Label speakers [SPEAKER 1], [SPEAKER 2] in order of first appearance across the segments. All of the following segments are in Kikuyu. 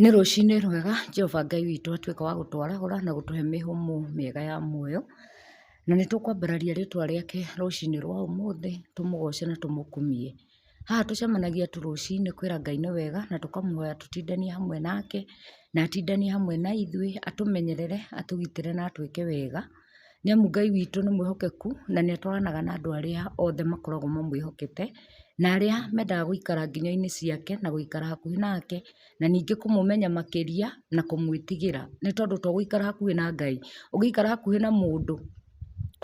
[SPEAKER 1] Nĩ rũcinĩ rwega Jehova Ngai witũ atuĩka wa gũtwarahũra na gũtũhe mĩhũmũ mĩega ya muoyo, na nĩ tũkwambararia rĩtwa rĩake rũcinĩ rwa ũmũthĩ, tũmũgoce na tũmũkumie. Haha tũcemanagia tu rũcinĩ kwĩra Ngai nĩ wega na tũkamũhoya tũtindanie hamwe nake, na atindanie hamwe na ithuĩ, atũmenyerere, atũgitĩre na atwĩke wega. Nĩ amu Ngai witũ nĩ mwĩhokeku na nĩ atwaranaga na andũ arĩa othe makoragwo mamwĩhokete, na arĩa mendaga gũikara nginyoinĩ ciake na gũikara hakuhĩ nake, na ningĩ kũmũmenya makĩria na kũmwĩtigĩra. Nĩ tondũ to gũikara hakuhĩ na Ngai, ũngĩikara hakuhĩ na mũndũ,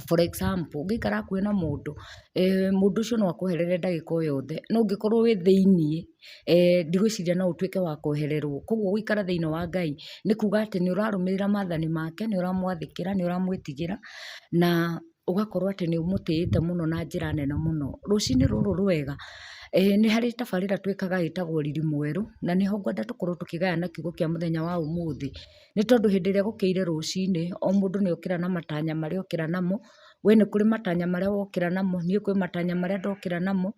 [SPEAKER 1] for example, ũngĩikara hakuhĩ na mũndũ, mũndũ ũcio no akũherere ndagĩka o yothe, no ũngĩkorwo wĩ thĩinĩ. ndigwĩciria no ũtuĩke wa kwehererwo. Kwoguo gũikara thĩinĩ wa Ngai nĩ kuuga atĩ nĩ ũrarũmĩrĩra maathani make, nĩ ũramwathĩkĩra, nĩ ũramwĩtigĩra na ũgakorwo atĩ nĩ ũmũtĩĩte mũno na njĩra nene mũno. Rũcinĩ rũrũ rwega, nĩ harĩ tabarĩra twĩkaga ĩtagwo Riri Mwerũ, na nĩ ho ngwenda tũkorwo tũkĩgayana kiugo kĩa mũthenya wa ũmũthĩ. Nĩ tondũ hĩndĩ ĩrĩa gũkĩire rũcinĩ, o mũndũ nĩ okĩra na matanya marĩa okĩra namo. We nĩ kũrĩ matanya marĩa wokĩra namo, niĩ kwĩ matanya marĩa ndokĩra namo,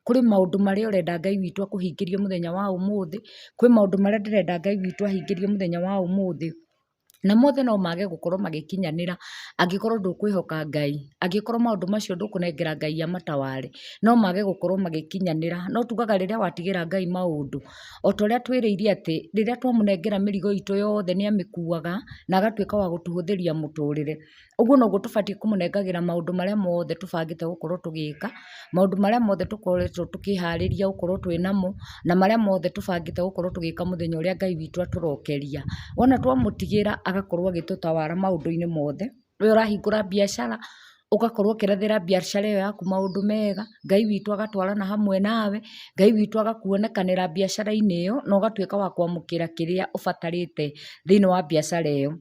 [SPEAKER 1] Kũrĩ maũndũ marĩa ũrenda Ngai witũ akũhingĩrie mũthenya wa ũmũthĩ, kwĩ maũndũ marĩa ndĩrenda Ngai witũ ahingĩrie mũthenya wa ũmũthĩ, na mothe no mage gũkorwo magĩkinyanĩra angĩkorwo ndũkwĩhoka Ngai, angĩkorwo maũndũ macio ndũkũnengera Ngai amataware, no mage gũkorwo magĩkinyanĩra. No tugaga rĩrĩa watigĩra Ngai maũndũ, o ta ũrĩa twĩrĩire atĩ, rĩrĩa twamũnengera mĩrigo itũ yothe nĩ amĩkuaga, na agatuĩka wa gũtũhũthĩria mũtũrĩre. Ũguo noguo tũbatiĩ kũmũnengagĩra maũndũ marĩa mothe tũbangĩte gũkorwo tũgĩka, maũndũ marĩa mothe tũkoretwo tũkĩharĩria gũkorwo twĩ namo, na marĩa mothe tũbangĩte gũkorwo tũgĩka mũthenya ũrĩa Ngai witũ atũrokeria. Wona twamũtigĩra agakorwo agĩtũtawara maũndũ-inĩ mothe. We ũrahingũra biacara, ũgakorwo ũkĩrethera biacara ĩyo yaku maũndũ mega, Ngai witũ agatwarana hamwe nawe, Ngai witũ agakuonekanĩra biacara-inĩ ĩyo, na ũgatuĩka wa kwamũkĩra kĩrĩa ũbatarĩte thĩiniĩ wa biacara ĩyo.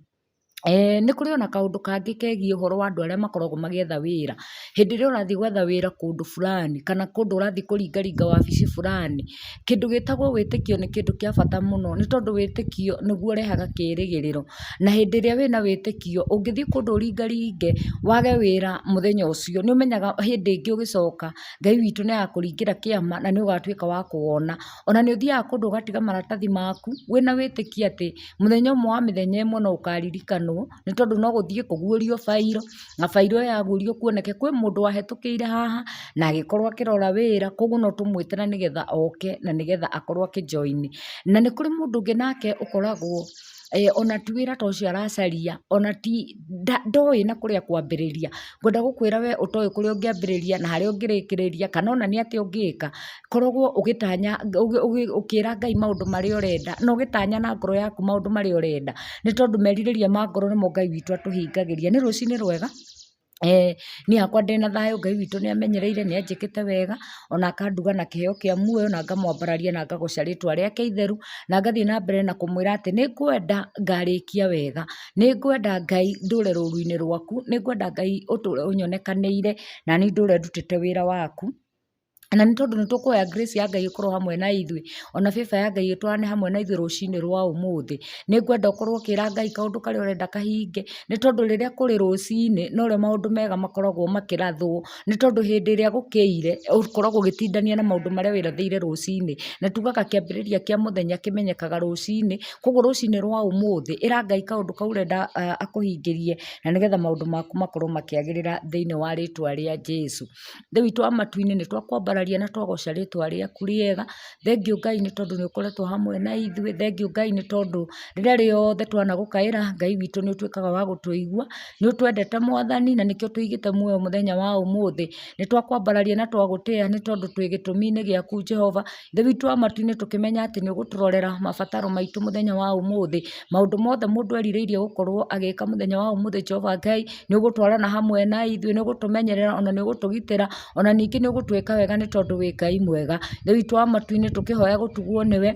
[SPEAKER 1] Eeh nĩ kũrĩ ona kaũndũ kangĩ kegiĩ ũhoro wa andũ arĩa makoragwo magĩetha wĩra. Hĩndĩ ĩrĩa ũrathiĩ gwetha wĩra kũndũ fulani, kana kũndũ ũrathiĩ kũringaringa wabici fulani, kĩndũ gĩtagwo wĩtĩkio nĩ kĩndũ kĩa bata mũno nĩ tondũ wĩtĩkio nĩguo ũrehaga kĩĩrĩgĩrĩro. Na hĩndĩ ĩrĩa wĩna wĩtĩkio, ũngĩthiĩ kũndũ ũringaringe, wage wĩra mũthenya ũcio, nĩ ũmenyaga hĩndĩ ĩngĩ ũgĩcoka, Ngai witũ nĩ agakũringĩra kĩama, na nĩ ũgatuĩka wa kũwona. Ona nĩ ũthiaga kũndũ ũgatiga maratathi maku, wĩna wĩtĩkio atĩ. Mũthenya ũmwe wa mĩthenya ĩmwe no ũkaririkanwo, nĩ tondũ no gũthiĩ kũgurio bairo, na bairo ĩyo yagurio kuoneke kwĩ mũndũ wahĩtũkĩire haha, na agĩkorwo akĩrora wĩra, koguo no tũmwĩte na nĩgetha oke na nĩgetha akorwo akĩ join. Na nĩ kũrĩ mũndũ ũngĩ nake ũkoragwo ona ti wĩra ta ũcio aracaria, ona ti, ndoĩ na kũrĩa ekwambĩrĩria. Ngwenda gũkwĩra we ũtoĩ kũrĩa ũngĩambĩrĩria na harĩa ũngĩrĩkĩrĩria, kana ona nĩ atĩa ũngĩka, koragwo ũgĩtanya ũkĩra Ngai maũndũ marĩa ũrenda na ũgĩtanya na ngoro yaku maũndũ marĩa ũrenda, nĩ tondũ merirĩria ma ngoro nĩmo Ngai witũ atũhingagĩria. Nĩ rũcinĩ rwega? Ee, niĩ hakwa ndĩ na thayũ, Ngai witũ nĩ amenyereire, nĩ anjĩkĩte wega, o na akanduga na kĩheo kĩa muoyo, na ngamwambararia na ngagoca rĩtwa rĩake itheru, na ngathiĩ na mbere na kũmwĩra atĩ nĩ ngwenda ngarĩkia wega. Nĩ ngwenda Ngai ndũũre rũũru-inĩ rwaku, nĩ ngwenda Ngai ũtũũre ũnyonekanĩire, na niĩ ndũũre ndutĩte wĩra waku. Na nĩ tondũ nĩ tũkũhoya grace ya Ngai ĩkorwo hamwe na ithuĩ, o na favor ya Ngai ĩtwarane hamwe na ithuĩ rũcinĩ rwa ũmũthĩ. Nĩ ngwenda ũkorwo ũkĩra Ngai kaũndũ karĩa ũrenda kahinge, nĩ tondũ rĩrĩa kũrĩ rũcinĩ, no rĩo maũndũ mega makoragwo makĩrathwo. Nĩ tondũ hĩndĩ ĩrĩa gũkĩire, ũkoragwo ũgĩtindania na maũndũ marĩa wĩrathĩire rũcinĩ. Na tugaga kĩambĩrĩria kĩa mũthenya kĩmenyekaga rũcinĩ, kũguo rũcinĩ rwa ũmũthĩ, ĩra Ngai kaũndũ kau ũrenda akũhingĩrie, na nĩgetha maũndũ maku makorwo makĩagĩrĩra thĩiniĩ wa rĩtwa rĩa Jesũ. Ithe witũ wa matu-inĩ, nĩ twakwambararia na twagoca rĩtwa rĩaku rĩega. Thengiũ Ngai nĩ tondũ nĩ ũkoretwo hamwe na ithuĩ. Thengiũ Ngai nĩ tondũ rĩrĩa rĩothe twanagũkaĩra, Ngai witũ nĩ ũtuĩkaga wa gũtũigua. Nĩ ũtwendete Mwathani, na nĩkĩo tũigĩte muoyo mũthenya wa ũmũthĩ. Nĩ twakwambararia na twagũtĩa nĩ tondũ twĩ gĩtũmi-inĩ gĩaku Jehova. Thĩ witũ wa matu-inĩ tũkĩmenya atĩ nĩ ũgũtũrorera mabataro maitũ mũthenya wa ũmũthĩ. Maũndũ mothe mũndũ erirĩirie gũkorwo agĩka mũthenya wa ũmũthĩ Jehova Ngai nĩ ũgũtwarana hamwe na ithuĩ, nĩ ũgũtũmenyerera ona nĩ ũgũtũgitĩra, ona ningĩ nĩ ũgũtwĩka wega nĩ tondũ wĩ Ngai mwega. Thĩ witũ wa matu-inĩ tũkĩhoya gũtugwo nĩwe,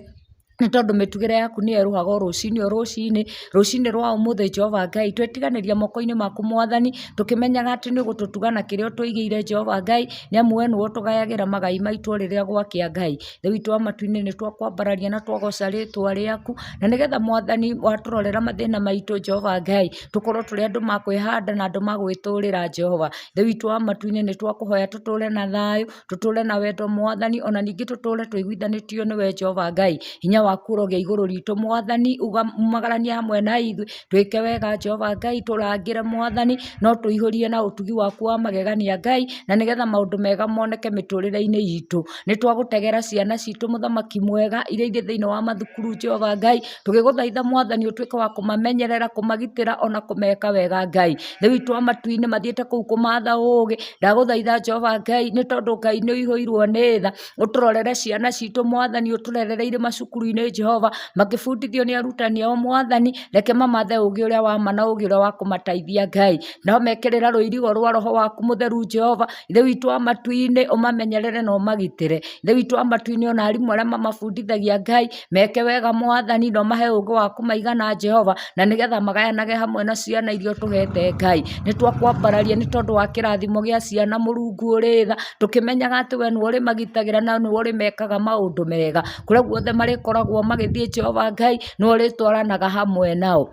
[SPEAKER 1] nĩ tondũ mĩtugĩre yaku nĩ yerũhaga o rũcinĩ o rũcinĩ. Rũcinĩ rwa ũmũthĩ Jehova Ngai, twetiganĩria moko-inĩ maku Mwathani, tũkĩmenyaga atĩ nĩ ũgũtũtuga na kĩrĩa ũtũigĩire Jehova Ngai, nĩ amu we nĩwe ũtũgayagĩra magai maitũ o rĩrĩa gwakĩa Ngai. Rĩu itũa matu-inĩ nĩ twakwambararia na twagoca rĩtwa rĩaku, na nĩgetha mwathani watũrorera mathĩna maitũ Jehova Ngai, tũkorwo tũrĩ andũ ma kwĩhanda na andũ ma gwĩtũrĩra Jehova. Rĩu itũa matu-inĩ nĩ twakũhoya tũtũre na thayũ, tũtũre na wendo mwathani, ona ningĩ tũtũre tũiguithanĩtio nĩwe Jehova Ngai. Hinya waku ũrogĩa igũrũ ritũ mwathani, umagaranie hamwe na ithuĩ, Twĩke wega Jehova Ngai, tũrangĩre Mwathani, no tũihũrie na ũtugi waku wa magegania Ngai, na nĩgetha maũndũ mega moneke mĩtũrĩre-inĩ itũ. Nĩ twagũtegera ciana citũ mũthamaki mwega, iria irĩ thĩinĩ wa mathukuru Jehova Ngai, tũgĩgũthaitha Mwathani ũtuĩke wa kũmamenyerera, kũmagitĩra ona kũmeka wega Ngai. Thĩ witũ wa matu-inĩ mathiĩte kũu kũmatha ũũgĩ, ndagũthaitha Jehova Ngai, nĩ tondũ Ngai nĩ ũihũirwo nĩ tha, ũtũrorere ciana citũ mwathani ũtũrerereire macukuru-inĩ Jehova makĩbundithio nĩ arutani ao mwathani reke mamathe ũgĩ ũrĩa wa ma na ũgĩ ũrĩa wa kũmateithia Ngai no mekĩrĩra rũirigo rwa roho waku mũtheru Jehova ithe witũ wa matu-inĩ ũmamenyerere na ũmagitĩre ithe witũ wa matu-inĩ ona arimũ arĩa mamabundithagia Ngai Meke wega mwathani na ũmahe ũũgĩ wa kũmaigana Jehova, na nĩgetha magayanage hamwe na ciana iria ũtũhete Ngai. Nĩ twakwambararia nĩ tondũ wa kĩrathimo gĩa ciana Mũrungu ũrĩ tha, tũkĩmenyaga atĩ we nĩwe ũrĩmagitagĩra na nĩwe ũrĩmekaga maũndũ mega. Kũrĩa guothe marĩkoragwo magĩthiĩ Jehova Ngai nĩwe ũrĩtwaranaga hamwe nao.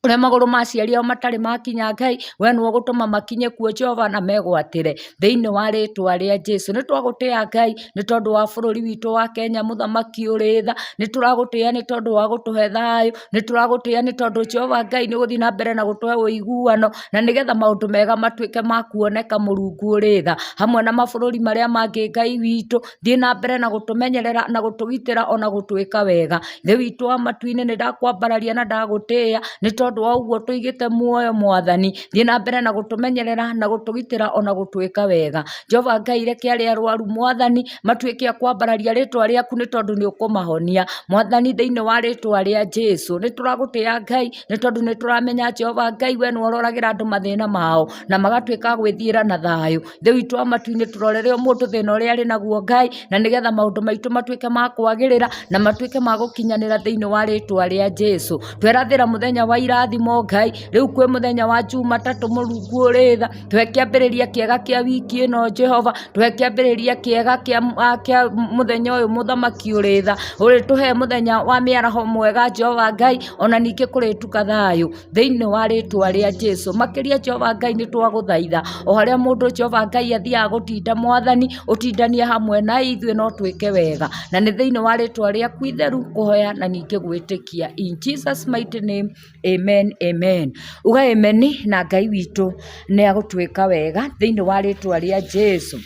[SPEAKER 1] ũrĩa magũrũ ma aciari ao matarĩ makinya Ngai, we nĩ ũgũtũma makinye kuo Jehova na megwatĩre thĩinĩ wa rĩtwa rĩa Jesu. Nĩ twagũtĩa Ngai nĩ tondũ wa bũrũri witũ wa Kenya mũthamaki ũrĩ tha, nĩ tũragũtĩa nĩ tondũ wa gũtũhe thayũ, nĩ tũragũtĩa nĩ tondũ Jehova Ngai nĩ ũgũthiĩ na mbere na gũtũhe ũiguano na nĩgetha maũndũ mega matuĩke ma kuoneka Mũrungu ũrĩ tha hamwe na mabũrũri marĩa mangĩ Ngai witũ. thiĩ na mbere na gũtũmenyerera na gũtũgitĩra ona gũtwĩka wega. Ithe witũ wa matu-inĩ nĩ ndakwambararia na ndagũtĩĩa nĩ tondũ wa ũguo tũigĩte muoyo mwathani. Thiĩ na mbere na gũtũmenyerera na gũtũgitĩra ona gũtwĩka wega. Jehova Ngai reke arĩa arwaru mwathani matuĩke a kwambararia rĩtwa rĩaku nĩ tondũ nĩ ũkũmahonia. Mwathani thĩinĩ wa rĩtwa rĩa Jesu nĩ tũragũtĩa Ngai nĩ tondũ nĩ tũramenya Jehova Ngai we nĩ wororagĩra andũ mathĩna mao na magatuĩka a gwĩthiĩra na thayũ. Rĩu itua matua tũrorere o mũndũ thĩna ũrĩa arĩ naguo Ngai, na nĩgetha maũndũ maitũ matuĩke ma kwagĩrĩra, na matuĩke ma gũkinyanĩra thĩinĩ wa rĩtwa rĩa Jesũ. Twerathĩra mũthenya wa irathimo Ngai, rĩu kwĩ mũthenya wa Jumatatũ mũrungu ũrĩ tha, tũhe kĩambĩrĩria kĩega kĩa wiki ĩno Jehova, tũhe kĩambĩrĩria kĩega kĩa ah, kĩa mũthenya ũyũ mũthamaki ũrĩ tha, ũrĩ tũhe mũthenya wa mĩaraho mwega Jehova Ngai, ona ningĩ kũrĩtuka thayũ. thĩinĩ wa rĩtwa rĩa Jesu. Makĩria Jehova Ngai nĩ twagũthaitha o harĩa mũndũ Jehova Ngai athiaga gũtinda mwathani ũtindanie hamwe na ithuĩ no twĩke wega na nĩ thĩinĩ wa rĩtwa rĩaku itheru kũhoya na ningĩ gwĩtĩkia in Jesus mighty name amen amen uga amen na Ngai witũ nĩ agũtwĩka wega thĩinĩ wa rĩtwa rĩa Jesu.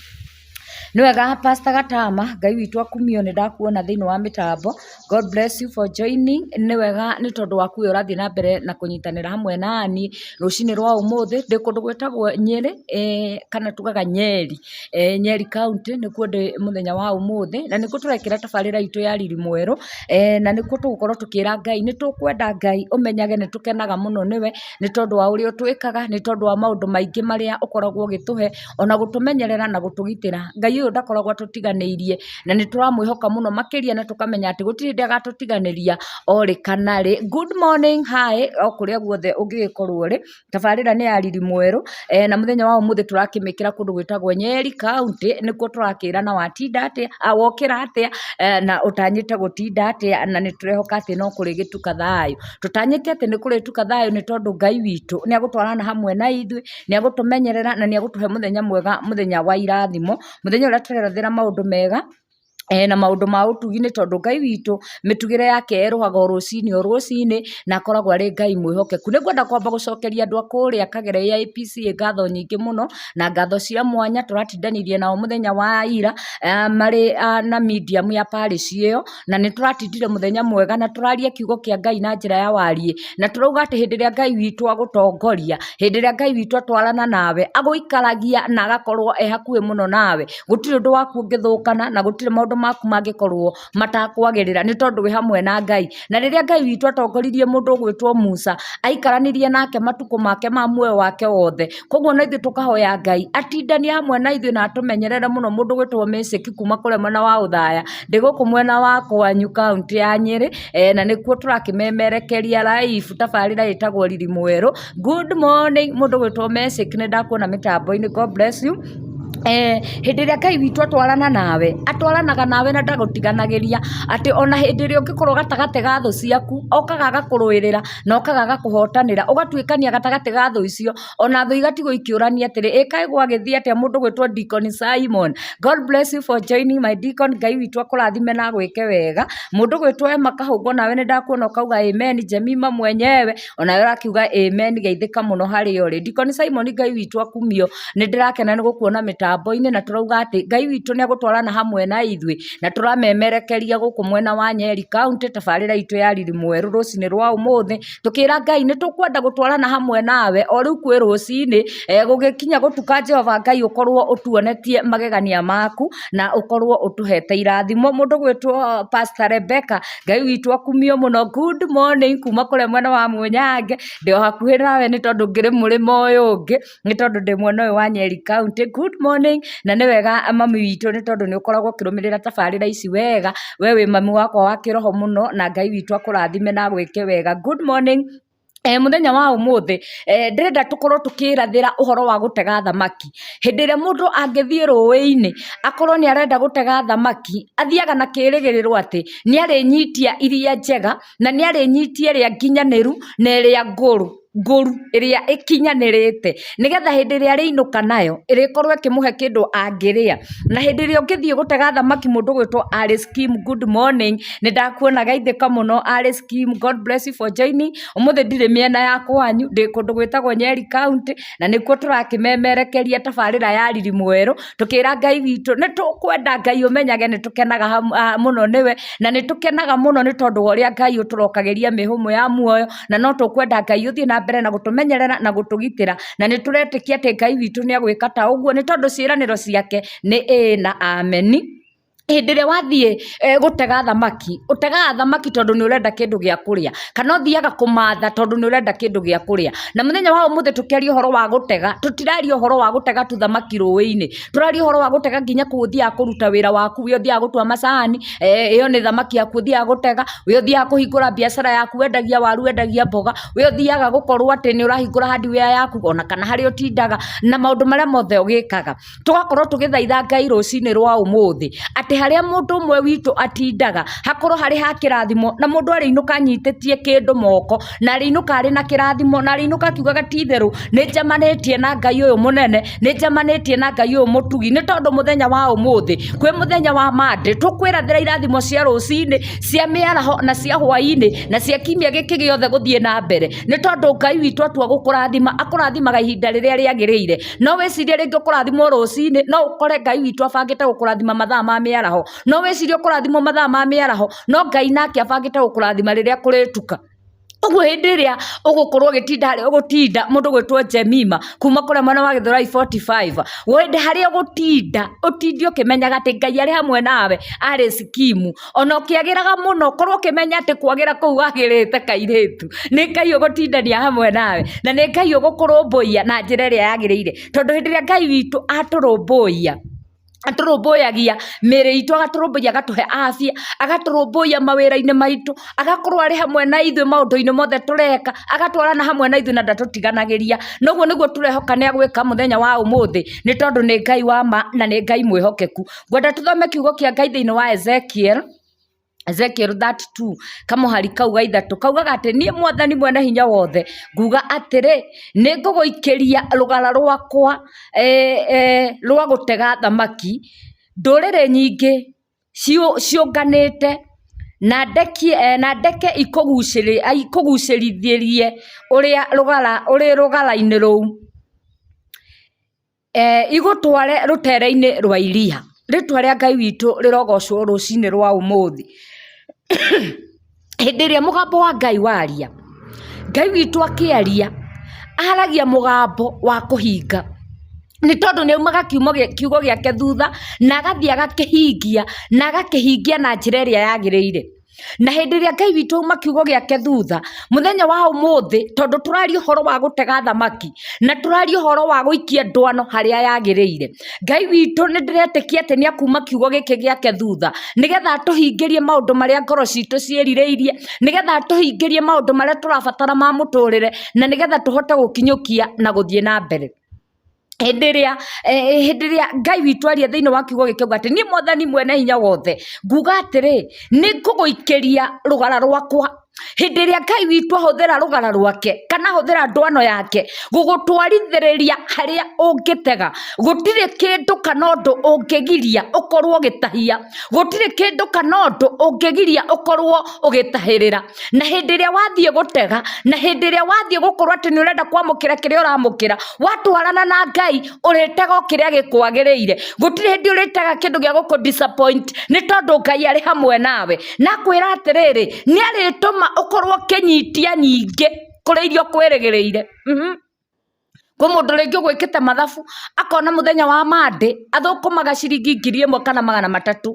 [SPEAKER 1] Nĩ wega pastor Gatama, Ngai witũ akumio nĩ ndakuona thĩinĩ wa mĩtambo. God bless you for joining. Nĩ wega nĩ tondũ waku ũyũ ũrathiĩ na mbere na kũnyitanĩra hamwe na niĩ rũcinĩ rwa ũmũthĩ. Ndĩ kũndũ gwĩtagwo Nyeri, kana tugaga Nyeri, Nyeri county nĩkuo ndĩ mũthenya wa ũmũthĩ. Na nĩkuo tũrekĩra tabarĩra itũ ya Riri Mwerũ, na nĩkuo tũgũkorwo tũkĩra Ngai. Nĩ tũkwenda Ngai, ũmenyage nĩ tũkenaga mũno nĩwe, nĩ tondũ wa ũrĩa ũtwĩkaga, nĩ tondũ wa maũndũ maingĩ marĩa ũkoragwo ũgĩtũhe. ona gũtũmenyerera na gũtũgitĩra. Ngai ũyũ ndakoragwo atũtiganĩirie na nĩ tũramwĩhoka mũno makĩria na tũkamenya atĩ gũtirĩ hĩndĩ agatũtiganĩria orĩ kana rĩ. Good morning, hi, o kũrĩa guothe ũngĩgĩkorwo ũrĩ. Tabarĩra nĩ ya Riri Mwerũ eh, na mũthenya wa ũmũthĩ tũrakĩmĩkĩra kũndũ gwĩtagwo Nyeri County, nĩkuo tũrakĩra na watinda atĩa, ah, wokĩra atĩa eh, na ũtanyĩte gũtinda atĩa na nĩ tũrehoka atĩ no kũrĩgĩtuka thayũ. Tũtanyĩte atĩ nĩ kũrĩtuka thayũ nĩ tondũ Ngai witũ nĩ agũtwarana hamwe na ithuĩ nĩegũtũmenyerera na nĩegũtũhe mũthenya mwega mũthenya wa irathimo, mũthenya ũrĩa tũrerethera maũndũ mega na maũndũ ma ũtugi nĩ tondũ Ngai witũ mĩtugĩre yake yerũhaga o rũcinĩ o rũcinĩ na akoragwo arĩ Ngai mwĩhokeku. Nĩngwenda kwamba gũcokeria andũ a kũrĩa Kagera AIPC ngatho nyingĩ mũno na ngatho cia mwanya tũratindanirie nao mũthenya wa ira marĩ na medium ya parish ĩyo. na nĩ tũratindire mũthenya mwega na tũraria kiugo kĩa Ngai na njĩra ya wariĩ na tũrauga atĩ hĩndĩ ĩrĩa Ngai witũ agũtongoria hĩndĩ ĩrĩa Ngai witũ atwarana nawe agũikaragia na agakorwo e hakuhĩ mũno nawe gũtirĩ ũndũ waku ũngĩthũkana na gũtirĩ maũndũ maku mangĩkorwo matakwagĩrĩra nĩ tondũ wĩ hamwe na Ngai na rĩrĩa Ngai witũ atongoririe mũndũ ũgwĩtwo Musa aikaranirie nake matukũ make ma muoyo wake wothe Koguo na ithuĩ tũkahoya Ngai atindane hamwe na ithuĩ na atũmenyerere mũno mũndũ ũgwĩtwo Mĩcĩki kuma kũrĩa mwena wa Ũthaya, ndĩ gũkũ mwena wa kwanyu kauntĩ ya Nyĩrĩ, eh, na nĩkuo tũrakĩmemerekeria live tabarĩra ĩtagwo Riri Mwerũ. Good morning mũndũ ũgwĩtwo Mĩcĩki nĩ ndakuona mĩtambo-inĩ, God bless you. Eh, hĩndĩ ĩrĩa Ngai witũ atwarana nawe atwaranaga nawe na ndagũtiganagĩria atĩ ona hĩndĩ ĩrĩa ũngĩkorwo gatagatĩ ga thũ ciaku okaga agakũrũĩrĩra na ũkagaga kũhotanĩra, ũgatuĩkania gatagatĩ ga thũ icio, ona thũ igatigwo ikĩũrania atĩrĩ, ĩ kaĩ gwagĩthiĩ atĩa mũndũ gwĩtwo Deacon Simon? God bless you for joining my deacon, Ngai witũ akũrathime na agwĩke wega. Mũndũ gwĩtwo Emma Kahũngũ onawe nĩ ndakuona ũkauga amen, Jemima mwenyewe onawe ũrakiuga amen, geithĩka mũno harĩa ũrĩ. Deacon Simon Ngai witũ akumio, nĩ ndĩrakena nĩ gũkuona mĩtambo-inĩ na tũrauga atĩ Ngai witũ nĩ egũtwarana hamwe na ithuĩ. Na tũramemerekeria gũkũ mwena wa Nyeri kaũntĩ tabarĩra itũ ya Riri Mwerũ rũcinĩ rwa ũmũthĩ tũkĩra Ngai nĩ tũkwenda gũtwarana hamwe nawe o rĩu kwĩ rũcinĩ eh, gũgĩkinya gũtuka Jehova Ngai ũkorwo ũtuonetie magegania maku na ũkorwo ũtũhete irathimo mũndũ gwĩtwo Pastor Rebecca Ngai witũ akumio mũno good morning kuma kũrĩa mwena wa Mũnyange ndĩ o hakuhĩ nawe nĩ tondũ ngĩrĩ mũrĩmo ũyũ ũngĩ nĩ tondũ ndĩ mwena ũyũ wa Nyeri county. Good morning na nĩ wega mami witũ nĩ tondũ nĩ ũkoragwo ũkĩrũmĩrĩra tabarĩra ici wega, we wĩ mami wakwa wa kĩroho mũno na Ngai witũ akũrathime na agwĩke wega. Good morning, mũthenya wa ũmũthĩ ndĩrenda tũkorwo tũkĩrathĩra ũhoro wa gũtega thamaki. Hĩndĩ ĩrĩa mũndũ angĩthiĩ rũĩ-inĩ akorwo nĩ arenda gũtega thamaki, athiaga na kĩrĩgĩrĩro atĩ nĩ arĩnyitia iria njega na nĩ arĩnyitia ĩrĩa nginyanĩru na ĩrĩa ngũrũ. ngũru, ĩrĩa ĩkinyanĩrĩte, nĩgetha hĩndĩ ĩrĩa arĩinũka nayo, ĩrĩkorwo ĩkĩmũhe kĩndũ angĩrĩa. Na hĩndĩ ĩrĩa ũngĩthiĩ gũtega thamaki mũndũ ũgwĩtwo Alice Kim, good morning, nĩ ndakuona geithĩka mũno Alice Kim, God bless you for joining, ũmũthĩ ndirĩ mĩena ya kwanyu, ndĩ kũndũ gwĩtagwo Nyeri County, na nĩkuo tũrakĩmemerekeria tabarĩra ya Riri Mwerũ, tũkĩra Ngai witũ, nĩ tũkwenda Ngai ũmenyage nĩ tũkenaga mũno nĩwe, na nĩ tũkenaga mũno nĩ tondũ wa ũrĩa Ngai ũtũrokagĩria mĩhũmũ ya muoyo. na no tũkwenda Ngai ũthiĩ na mbere na gũtũmenyerera na gũtũgitĩra na nĩ tũretĩkia atĩ Ngai witũ nĩ egwĩka ta ũguo nĩ tondũ ciĩranĩro ciake nĩ ĩĩ na ameni hĩndĩ ĩrĩa wathiĩ eh, gũtega thamaki ũtegaga thamaki tondũ nĩ ũrenda kĩndũ gĩa kũrĩa kana ũthiaga kũmatha tondũ nĩ ũrenda kĩndũ gĩa kũrĩa na mũthenya wa ũmũthĩ tũkĩaria ũhoro wa gũtega tũtiraria ũhoro wa gũtega tu thamaki rũĩ-inĩ tũraria ũhoro wa gũtega nginya kũ ũthiaga kũruta wĩra waku ũrĩa ũthiaga gũtua macani eh, ĩyo nĩ thamaki yaku ũthiaga gũtega ũrĩa ũthiaga kũhingũra biacara yaku wendagia waru wendagia mboga ũrĩa ũthiaga gũkorwo atĩ nĩ ũrahingũra hardware yaku ona kana harĩa ũtindaga na maũndũ marĩa mothe ũgĩkaga tũgakorwo tũgĩthaitha ngai rũcinĩ rwa ũmũthĩ atĩ harĩa mũndũ ũmwe witũ atindaga hakorwo harĩ ha kĩrathimo na mũndũ arĩinũka anyitĩtie kĩndũ moko na arĩinũka arĩ na kĩrathimo na arĩinũka akiugaga ti itherũ nĩ njemanĩtie na ngai ũyũ mũnene nĩ njemanĩtie na ngai ũyũ mũtugi nĩ tondũ mũthenya wa ũmũthĩ kwĩ mũthenya wa mandĩ tũkwĩrathĩra irathimo cia rũcinĩ cia mĩaraho na cia hwainĩ na cia kiumia gĩkĩ gĩothe gũthiĩ na mbere nĩ tondũ ngai witũ atua gũkũrathima akũrathimaga ihinda rĩrĩa rĩagĩrĩire no wĩcirie rĩngĩ ũkũrathimwo rũcinĩ no ũkore ngai witũ abangĩte gũkũrathima mathaa ma mĩaraho no wĩcirie ũkũrathimwo mathaa ma mĩaraho no ngai nake abangĩte gũkũrathima rĩrĩa kũrĩtuka ũguo hĩndĩ ĩrĩa ũgũkorwo ũgĩtinda harĩa ũgũtinda mũndũ gwĩtwo jemima kuma kũrĩa mwena wa gĩthurai 45 hĩndĩ harĩa ũgũtinda ũtinde ũkĩmenyaga atĩ ngai arĩ hamwe nawe arĩ sikimu ona ũkĩagĩraga mũno korwo ũkĩmenya atĩ kwagĩra kũu wagĩrĩte kairĩtu nĩ ngai ũgũtindania hamwe nawe na nĩ ngai ũgũkũrũmbũiya na njĩra ĩrĩa yagĩrĩire tondũ hĩndĩ ĩrĩa ngai witũ atũrũmbũiya atũrũmbũyagia mĩĩrĩ itũ agatũrũmbũyia agatũhe afya agatũrũmbũyia mawĩra-inĩ maitũ agakorwo arĩ hamwe na ithuĩ maũndũ-inĩ mothe tũreka agatwarana hamwe na ithuĩ na ndatũtiganagĩria na ũguo nĩguo tũrehoka nĩ agwĩka mũthenya wa ũmũthĩ nĩ tondũ nĩ Ngai wa ma na nĩ Ngai mwĩhokeku ngwenda tũthome kiugo kĩa Ngai thĩinĩ wa Ezekiel Ezekiel 32, kamũhari kau ga ithatũ, kaugaga atĩ niĩ mwathani mwene hinya wothe, nguga atĩrĩ, nĩ ngũgũikĩria rũgara rwakwa e, e, rwa gũtega thamaki, ndũrĩrĩ nyingĩ ciũ- ciũnganĩte, na ndekie, e, na ndeke ikũgucĩrĩ- a, ikũgucĩrithĩrie ũrĩa rũgara, ũrĩ rũgara-inĩ rũu. Igũtware rũteere-inĩ rwa iria, rĩĩtwa rĩa Ngai witũ rĩrogocwo rũcinĩ rwa ũmũthĩ. Hĩndĩ ĩrĩa mũgambo wa Ngai waria, Ngai witũ akĩaria, aragia mũgambo wa kũhinga, nĩ tondũ nĩ aumaga kiugo gĩake thutha na agathiĩ agakĩhingia, na agakĩhingia na njĩra ĩrĩa yagĩrĩire. Na hĩndĩ ĩrĩa Ngai witũ auma kiugo gĩake thutha, mũthenya wa ũmũthĩ, tondũ tũraria ũhoro wa gũtega thamaki, na tũraria ũhoro wa gũikia ndwano harĩa yagĩrĩire, Ngai witũ nĩ ndĩretĩkia atĩ nĩ akuma kiugo gĩkĩ gĩake thutha, nĩgetha atũhingĩrie maũndũ marĩa ngoro citũ ciĩrirĩirie, nĩgetha atũhingĩrie maũndũ marĩa tũrabatara ma mũtũrĩre, na nĩgetha tũhote gũkinyũkia na gũthiĩ na mbere. hĩndĩ ĩrĩa hĩndĩ ĩrĩa ngai witũ aria thĩinĩ wa kiugo gĩkĩ auga atĩ niĩ mwathani mwene hinya wothe nguga atĩrĩ nĩ ngũgũikĩria rũgara rwakwa hĩndĩ ĩrĩa ngai witũ ahũthĩra rũgara rwake kana ahũthĩra ndwano yake gũgũtwarithĩrĩria harĩa ũngĩtega gũtirĩ kĩndũ kana ũndũ ũngĩgiria ũkorwo ũgĩtahia gũtirĩ kĩndũ kana ũndũ ũngĩgiria ũkorwo ũgĩtahĩrĩra. na hĩndĩ ĩrĩa wathiĩ gũtega na hĩndĩ ĩrĩa wathiĩ gũkorwo atĩ nĩ ũrenda kwamũkĩra kĩrĩa ũramũkĩra watwarana na ngai ũrĩtega o kĩrĩa gĩkwagĩrĩire gũtirĩ hĩndĩ ũrĩtega kĩndũ gĩa gũkũ disappoint nĩ tondũ ngai arĩ hamwe nawe nakwĩra atĩrĩrĩ nĩ arĩtũma ũkorwo ũkĩnyitia nyingĩ kũrĩ iria ũkwĩrĩgĩrĩire Mhm. Kwĩ mũndũ rĩngĩ ũgũĩkĩte mathabu akona mũthenya wa Monday athũkũmaga ciringi ngiri ĩmwe kana magana matatũ,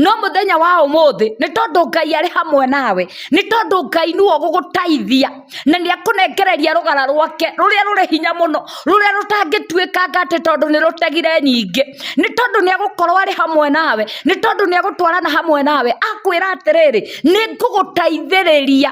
[SPEAKER 1] no mũthenya wa ũmũthĩ nĩ tondũ Ngai arĩ hamwe nawe, nĩ tondũ Ngai nĩwe ũgũgũteithia na nĩ ekũnengereria rũgara rwake rũrĩa rũrĩ hinya mũno, rũrĩa rũtangĩtuĩkanga atĩ tondũ nĩ rũtegire nyingĩ, nĩ tondũ nĩ egũkorwo arĩ hamwe nawe, nĩ tondũ nĩ egũtwarana hamwe nawe, akwĩra atĩrĩrĩ, nĩ ngũgũteithĩrĩria.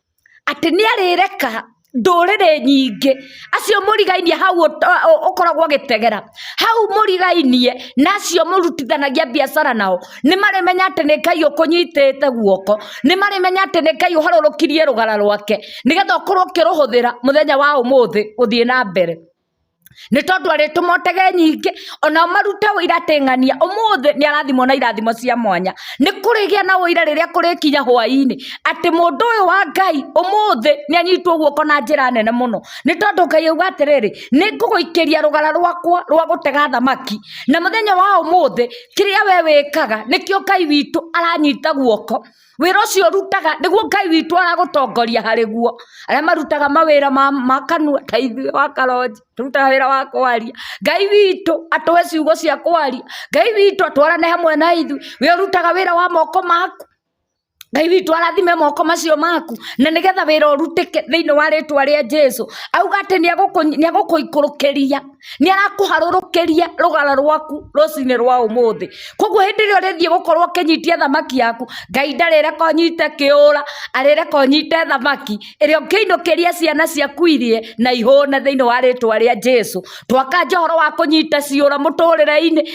[SPEAKER 1] atĩ nĩ arĩreka ndũrĩrĩ nyingĩ acio mũrigainie hau ũkoragwo ũgĩtegera, hau mũrigainie na acio mũrutithanagia mbiacara nao, nĩ marĩmenya atĩ nĩ Ngai ũkũnyitĩte guoko, nĩ marĩmenya atĩ nĩ Ngai ũharũrũkirie rũgara rwake, nĩgetha ũkorwo ũkĩrũhũthĩra mũthenya wa ũmũthĩ gũthiĩ na mbere. Nĩ tondũ arĩtũma ũtege nyingĩ, ona ũmarute ũira atĩ ng'ania ũmũthĩ nĩ arathimwo na irathimo cia mwanya. Nĩ kũrĩgĩa na ũira rĩrĩa kũrĩkinya hwainĩ, atĩ mũndũ ũyũ wa Ngai ũmũthĩ nĩ anyitwo guoko na njĩra nene mũno. Nĩ tondũ Ngai auga atĩrĩrĩ, nĩ ngũgũikĩria rũgara rwakwa rwa gũtega thamaki. Na mũthenya wa ũmũthĩ, kĩrĩa we wĩkaga, nĩkĩo Ngai witũ aranyita guoko. Wĩra ũcio ũrutaga nĩguo Ngai witũ aragũtongoria harĩ guo. Arĩa marutaga mawĩra ma, ma kanua ta ithuĩ wa karonji, tũrutaga wĩra wa kwaria. Ngai witũ atũhe ciugo cia kwaria. Ngai witũ atwarane hamwe na ithuĩ. We ũrutaga wĩra wa moko maku. Ngai witũ arathime moko macio maku na nĩgetha wĩra ũrutĩke thĩinĩ wa rĩtwa rĩa Jesu. Auga atĩ nĩagũkũ, nĩagũkũikũrũkĩria. Nĩ arakũharũrũkĩria rũgara rwaku rũcinĩ rwa ũmũthĩ. Kũguo hĩndĩ ĩrĩa ũrĩthiĩ gũkorwo ũkĩnyitia thamaki yaku, Ngai ndarĩreka ũnyite kĩũra, arĩreka ũnyite thamaki ĩrĩa ũngĩinũkĩria ciana ciaku irĩe na ihũne thĩinĩ wa rĩtwa rĩa Jesu. Twakanja ũhoro wa kũnyita ciũra mũtũrĩre-inĩ.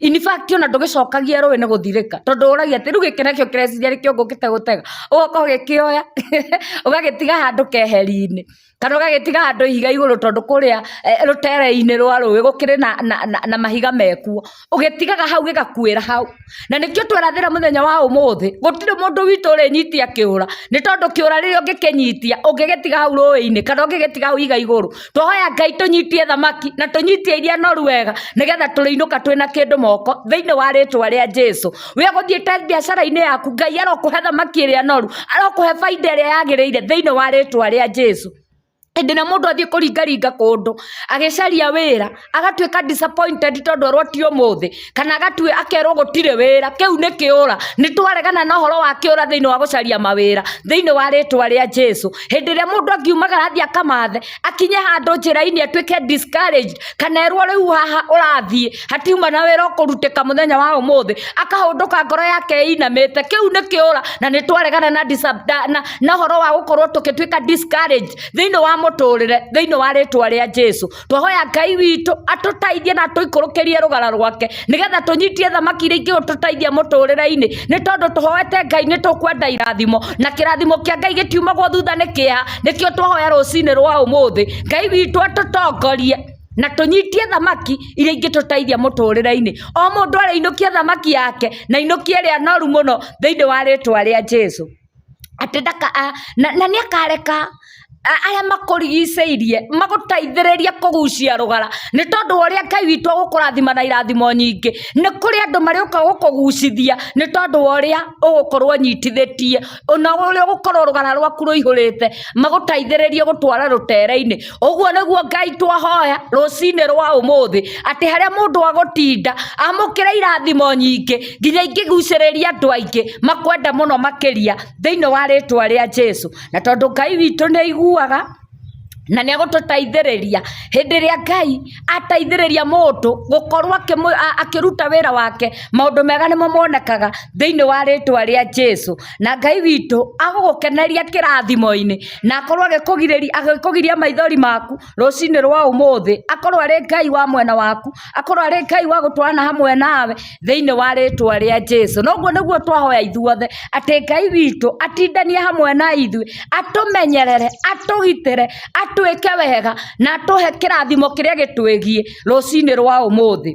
[SPEAKER 1] In fact ona ndũgĩcokagia rũĩ nĩ gũthirĩka tondũ ũragia atĩ rĩu gĩkĩ nakĩo kĩreciria nĩkĩo ngũkĩte gũtega, ũgoka ũgĩkĩoya ũgagĩtiga handũ keheri-inĩ kana ũgagĩtiga handũ ihiga igũrũ tondũ kũrĩa rũtere-inĩ rwa rũĩ gũkĩrĩ na mahiga mekuo, ũgĩtigaga hau gĩgakuĩra hau. Na nĩkĩo twerathĩra mũthenya wa ũmũthĩ gũtirĩ mũndũ witũ ũrĩnyitia kĩũra nĩ tondũ kĩũra rĩrĩa ũngĩkĩnyitia ũngĩgĩtiga hau rũĩ-inĩ kana ũngĩgĩtiga hau ihiga igũrũ. twahoya ngai tũnyitie thamaki na tũnyitie iria noru wega nĩgetha tũrĩinũka twĩna kĩndũ moko thĩinĩ wa rĩtwa rĩa jesu we gũthiĩte biacara-inĩ yaku ngai arokũhe thamaki ĩrĩa noru arokũhe baida ĩrĩa yagĩrĩire thĩinĩ wa rĩtwa rĩa jesu hĩndĩ ĩrĩa mũndũ athiĩ kũringaringa kũndũ agĩcaria wĩra agatuĩka disappointed tondũ erwo ti ũmũthĩ kana agatue akerwo gũtirĩ wĩra kĩu nĩ kĩũra nĩ twaregana na ũhoro wa kĩũra thĩinĩ wa gũcaria mawĩra thĩinĩ wa rĩtwa rĩa jesu hĩndĩ ĩrĩa mũndũ angiumagara athiĩ akamathe akinye handũ njĩra-inĩ atuĩke discouraged kana erwo rĩu haha ũrathiĩ hatiuma na wĩra ũkũrutĩka mũthenya wa ũmũthĩ akahũndũka ngoro yake ĩinamĩte kĩu nĩ kĩũra na nĩ twaregana na, disab- na, na, na ũhoro wa gũkorwo tũkĩtuĩka discouraged thĩinĩ wa mũtũrĩre thĩinĩ wa rĩtwa rĩa jesu twahoya ngai witũ atũteithie na tũikũrũkĩrie rũgara rwake nĩgetha tũnyitie thamaki iria ingĩtũteithia mũtũrĩre-inĩ nĩ tondũ tũhoete ngai nĩ tũkwenda irathimo na kĩrathimo kĩa ngai gĩtiumagwo thutha nĩ kĩeha nĩkĩo twahoya rũcinĩ rwa ũmũthĩ ngai witũ atũtongorie na tũnyitie thamaki iria ingĩtũteithia mũtũrĩre-inĩ o mũndũ arĩinũkie thamaki yake na ainũkie ĩrĩa noru mũno thĩinĩ wa rĩtwa rĩa jesu atĩ ndaka na nĩ akareka arĩa makũrigicĩirie magũteithĩrĩrie kũgucia rũgara nĩ tondũ wa ũrĩa Ngai witũ agũkũrathima na irathimo nyingĩ. Nĩ kũrĩ andũ marĩũka gũkũgucithia nĩ tondũ wa ũrĩa ũgũkorwo ũnyitithĩtie na ũrĩa ũgũkorwo rũgara rwaku rũihũrĩte magũteithĩrĩrie gũtware rũtere-inĩ. ũguo nĩguo ngai twahoya rũcinĩ rwa ũmũthĩ atĩ harĩa mũndũ agũtinda amũkĩre irathimo nyingĩ nginya ingĩgucĩrĩria andũ aingĩ makwenda mũno makĩria thĩinĩ wa rĩtwa rĩa jesu na tondũ ngai witũ nĩ aiguaga na nĩ egũtũteithĩrĩria hĩndĩ ĩrĩa ngai ateithĩrĩria mũndũ gũkorwo akĩruta wĩra wake maũndũ mega nĩmo monekaga thĩinĩ wa rĩtwa rĩa Jesu na Ngai witũ agũgũkeneria kĩrathimo-inĩ na akorwo agĩkũgiria maithori maku rũcinĩ rwa ũmũthĩ akorwo arĩ Ngai wa mwena waku akorwo arĩ Ngai wa gũtwarana hamwe nawe. thĩinĩ wa rĩtwa rĩa Jesu na ũguo nĩguo twahoya ithuothe atĩ Ngai witũ atindanie hamwe na ithuĩ atũmenyerere atũgitĩre atwĩke wega na atũhe kĩrathimo kĩrĩa gĩtwĩgiĩ rũcinĩ rwa ũmũthĩ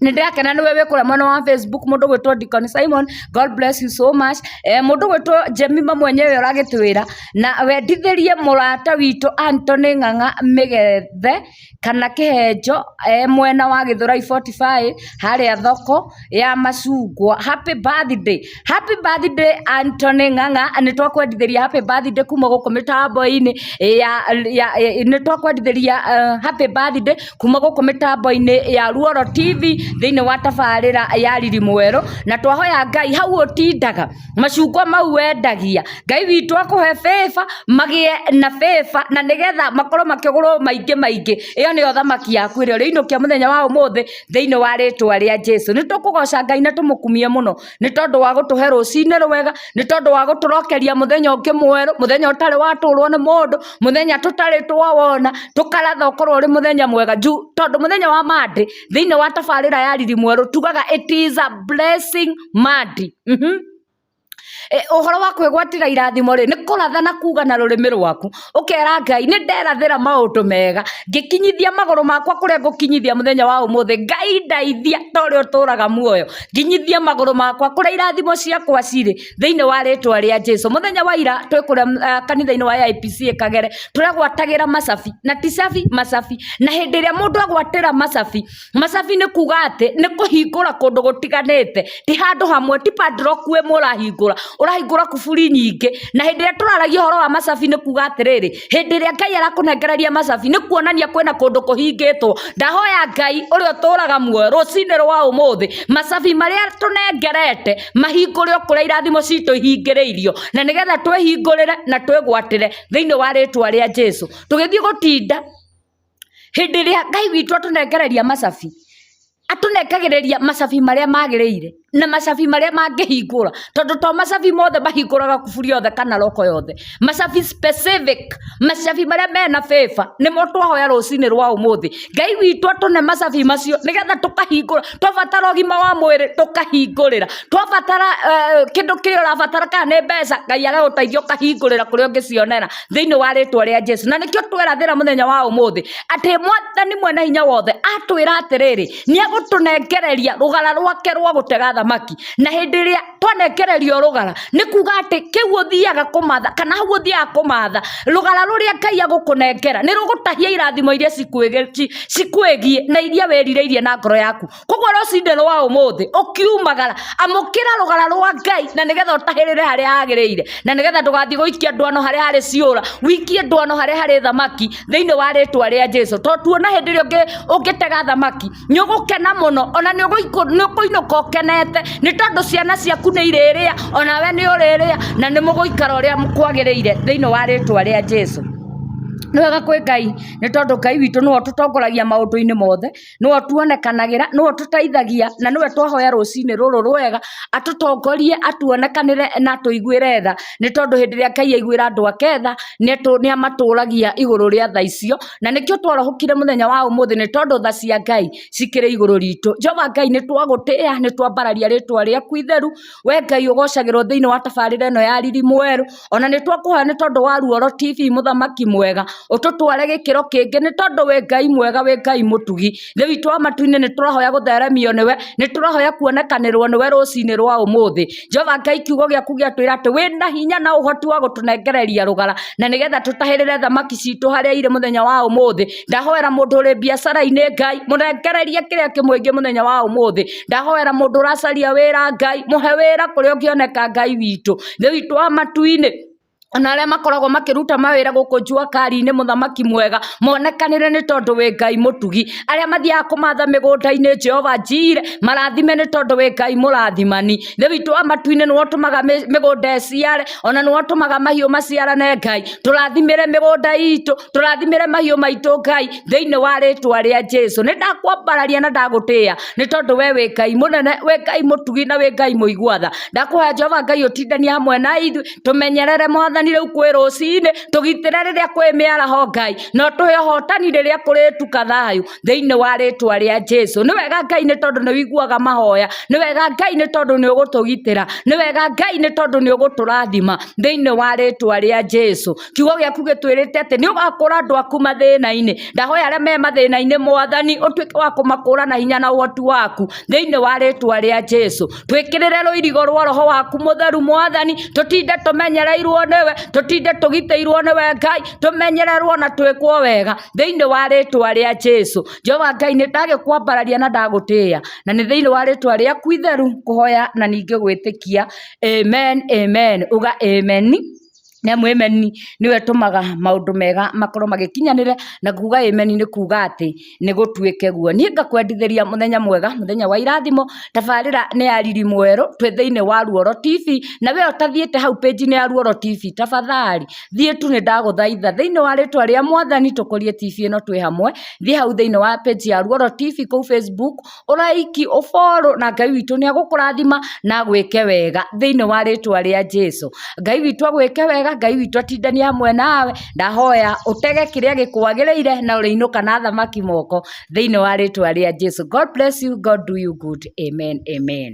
[SPEAKER 1] nä ndä rakena nä we wä kå rä mwena wa facebook må ndå gwä two Deacon simon god bless you so much eh, må ndå gwä two jemima mwenyewe å ragä twä ra na wendithä rie må rata witå antony ng'ang'a mä gethe kana kĩhenjo e mwena wa gĩthurai 45 harĩa thoko ya macungwa happy birthday happy birthday Anthony Ng'ang'a nĩ twakwendithĩria happy birthday kuma gũkũ mĩtambo-inĩ ya, ya, ya nĩ twakwendithĩria uh, happy birthday kuma gũkũ mĩtambo-inĩ ya Ruoro TV thĩinĩ wa tabarĩra ya Riri Mwerũ na twahoya Ngai hau ũtindaga macungwa mau wendagia ngai witũ akũhe bĩba magĩe na bĩba na nĩgetha makorwo makĩgũrwo maingĩ maingĩ ĩyo nĩyo thamaki yaku ĩrĩa ũrĩinũkia mũthenya wa ũmũthĩ thĩinĩ wa rĩtwa rĩa jesũ nĩtũkũgoca ngai na tũmũkumie mũno nĩ tondũ wa gũtũhe rũcinĩ rwega nĩ tondũ wa gũtũrokeria mũthenya ũngĩ mwerũ mũthenya ũtarĩ watũrwo nĩ mũndũ mũthenya tũtarĩ twawona tũkaratha ũkorwo ũrĩ mũthenya mwega juu tondũ mũthenya wa monday thĩinĩ wa tabarĩra ya riri mwerũ tugaga it is a blessing Mandi. Mhm. E, ũhoro wa kwĩgwatĩra irathimo rĩ nĩ kũrathana kuga na rũrĩmĩ rwaku ũkera ngai nĩ nderathĩra maũndũ mega ngĩkinyithia magũrũ makwa kũrĩa ngũkinyithia mũthenya wa ũmũthĩ ngai ndaithia ta ũrĩa ũtũraga muoyo nginyithia magũrũ makwa kũrĩa irathimo ciakwa cirĩ thĩinĩ wa rĩtwa rĩa jesu mũthenya wa ira twĩ kũrĩa uh, kanitha-inĩ wa IPC kagere tũragwatagĩra macabi na ticabi macabi na hĩndĩ ĩrĩa mũndũ agwatĩra macabi Macabi nĩ kuga atĩ nĩ kũhingũra kũndũ gũtiganĩte ti handũ hamwe ti padlock ĩmwe ũrahingũra ũrahingũra kuburi nyingĩ na hĩndĩ ĩrĩa tũraragia ũhoro wa macabi nĩ kuga atĩrĩrĩ hĩndĩ ĩrĩa Ngai arakũnengereria macabi nĩ kuonania kwĩna kũndũ kũhingĩtwo ndahoya Ngai ũrĩa ũtũraga muoyo rũcinĩ rwa ũmũthĩ macabi marĩa tũnengerete mahingũre o kũrĩa irathimo citũ ihingĩrĩirio na nĩgetha twĩhingũrĩre na twĩgwatĩre thĩinĩ wa rĩtwa rĩa Jesu tũgĩthiĩ gũtinda Hĩndĩ ĩrĩa Ngai witũ atũnengereria macabi, atũnengagĩrĩria macabi marĩa magĩrĩire, na macabi marĩa mangĩhingũra, tondũ to macabi mothe mahingũraga kuburi yothe kana roko yothe. Macabi specific, macabi marĩa mena bĩba, nĩmo twahoya rũcinĩ rwa ũmũthĩ. Ngai witũ atũne macabi macio, nĩgetha tũkahingũra. Twabatara ũgima wa mwĩrĩ, tũkahingũrĩra. Twabatara kĩndũ kĩrĩa ũrabatara kana nĩ mbeca, Ngai agagũteithia ũkahingũrĩra kũrĩa ũngĩcionera. thĩinĩ wa rĩtwa rĩa jesu na nĩkĩo twerathĩra mũthenya wa ũmũthĩ atĩ mwathani mwene hinya wothe atwĩra atĩrĩrĩ nĩegũtũnengereria rũgara rwake rwa gũtega thamaki na hĩndĩ ĩrĩa twanengererio rũgara nĩ kuga atĩ kĩu ũthiaga kũmatha kana hau ũthiaga kũmatha rũgara rũrĩa ngai agũkũnengera nĩ rũgũtahia irathimo iria cikwĩgiĩ na iria wĩrirĩirie na ngoro yaku koguo rũcinĩ rwa ũmũthĩ ũkiumagara amũkĩra rũgara rwa ngai na nĩgetha ũtahĩrĩre harĩa hagĩrĩire na nĩgetha ndũgathiĩ gũikia ndwano harĩa harĩ ciũra wikie ndwano harĩa harĩ thamaki thĩinĩ wa rĩtwa rĩa jesu to tuona hĩndĩ ĩrĩa ũngĩ- ũngĩtega thamaki nĩ ũgũkena mũno ona nĩ ũgũikũ- nĩ ũkũinũka ũkenete nĩ tondũ ciana ciaku nĩ irĩrĩa ona we nĩ ũrĩrĩa na nĩ mũgũikara ũrĩa kwagĩrĩire thĩinĩ wa rĩtwa rĩa jesu nĩ wega kwĩ ngai nĩ tondũ ngai witũ nĩwe ũtũtongoragia maũndũ-inĩ mothe nĩwe ũtuonekanagĩra, nĩwe ũtũteithagia, na nĩwe twahoya rũcinĩ rũrũ rwega, atũtongorie, atuonekanĩre na atũiguĩre tha, nĩ tondũ hĩndĩ ĩrĩa Ngai aiguĩra andũ ake tha, nĩ atũ nĩ amatũragia igũrũ rĩa tha icio, na nĩkĩo twarahũkire mũthenya wa ũmũthĩ nĩ tondũ tha cia Ngai cikĩrĩ igũrũ ritũ. Jehova Ngai nĩ twagũtĩa, nĩ twambararia rĩtwa rĩaku itheru, wee Ngai ũgocagĩrwo thĩiniĩ wa tabarĩra ĩno ya riri mwerũ. ona nĩ twakũhoya nĩ tondũ wa ruoro tv mũthamaki mwega ũtũtware gĩkĩro kĩngĩ nĩ tondũ wĩ ngai mwega wĩ ngai mũtugi nĩ witũ wa matuinĩ nĩ tũrahoya gũtheremio nĩwe nĩ tũrahoya kuonekanĩrwo nĩwe rũcinĩ rwa ũmũthĩ jehova ngai kiugo gĩaku gĩatwĩra atĩ wĩ na hinya na ũhoti wa gũtũnengereria rũgara na nĩgetha tũtahĩrĩre thamaki citũ harĩa irĩ mũthenya wa ũmũthĩ ndahoera mũndũ ũrĩ biacara-inĩ ngai mũnengererie kĩrĩa kĩmũingĩ mũthenya wa ũmũthĩ ndahoera mũndũ ũracaria wĩra ngai mũhe wĩra kũrĩa ũngĩoneka ngai witũ nĩ witũ wa matu-inĩ ona arĩa makoragwo makĩruta mawĩra gũkũ njua kari-inĩ mũthamaki mwega monekanĩre nĩ tondũ wĩ ngai mũtugi arĩa mathiaga kũmatha mĩgũnda-inĩ jehova njire marathime nĩ tondũ wĩ ngai mũrathimani thĩ witũ wa matu-inĩ nĩwe ũtũmaga mĩ- mĩgũnda ĩciare ona nĩwe ũtũmaga mahiũ maciarane ngai tũrathimĩre mĩgũnda itũ tũrathimĩre mahiũ maitũ ngai thĩinĩ wa rĩtwa rĩa jesu nĩ ndakwambararia na ndagũtĩa nĩ tondũ we wĩ ngai mũnene wĩ ngai mũtugi na wĩ ngai mũiguatha ndakũhoya jehova ngai ũtindanie hamwe na ithuĩ tũmenyerere mwathani rĩu kwĩ rũcinĩ tũgitĩre rĩrĩa kwĩ mĩaraho ngai na ũtũhe ũhotani rĩrĩa kũrĩtuka thayũ thĩinĩ wa rĩtwa rĩa jesu nĩ wega ngai nĩ tondũ nĩ wiguaga mahoya nĩ wega ngai nĩ tondũ nĩ ũgũtũgitĩra nĩ wega ngai nĩ tondũ nĩ ũgũtũrathima thĩinĩ wa rĩtwa rĩa jesu kiugo gĩaku gĩtwĩrĩte atĩ nĩ ũgakũra andũ aku mathĩna-inĩ ndahoya arĩa me mathĩna-inĩ mwathani ũtuĩke wa kũmakũra na hinya na ũhoti waku thĩinĩ wa rĩtwa rĩa jesu twĩkĩrĩre rũirigo rwa roho waku mũtheru mwathani tũtinde tũmenyereirwo nĩwe tũtinde tũgitĩirwo nĩwe ngai tũmenyererwo na twĩkwo wega thĩinĩ wa rĩtwa rĩa jesu jehova ngai nĩ ndagĩkwambararia na ndagũtĩĩa na nĩ thĩinĩ wa rĩtwa rĩaku itheru kũhoya na ningĩ gwĩtĩkia amen amen uga amen nĩ amu amen nĩyo ĩtũmaga maũndũ mega makorwo magĩkinyanĩre, na kuuga amen nĩ kuuga atĩ nĩ gũtuĩke guo. Niĩ ngakwendithĩria mũthenya mwega, mũthenya wa irathimo, tabarĩra nĩ ya Riri Mwerũ, twĩ thĩiniĩ wa Ruoro TV, na wee ũtathiĩte hau page -inĩ ya Ruoro TV, tafadhali thiĩ tu nĩ ndagũthaitha, thĩiniĩ wa rĩtwa rĩa mwathani tũkũrie TV ĩno twĩ hamwe, thiĩ hau thĩiniĩ wa page ya Ruoro TV kũu facebook. ũraiki ũborũ na ngai witũ nĩ agũkũrathima na agwĩke wega thĩinĩ wa rĩtwa rĩa jesu ngai witũ agwĩke wega ngai witũ atindanie hamwe nawe ndahoya ũtege kĩrĩa gĩkwagĩrĩire na ũrĩinũka na thamaki moko thĩinĩ wa rĩtwa rĩa jesu god bless you god do you good amen amen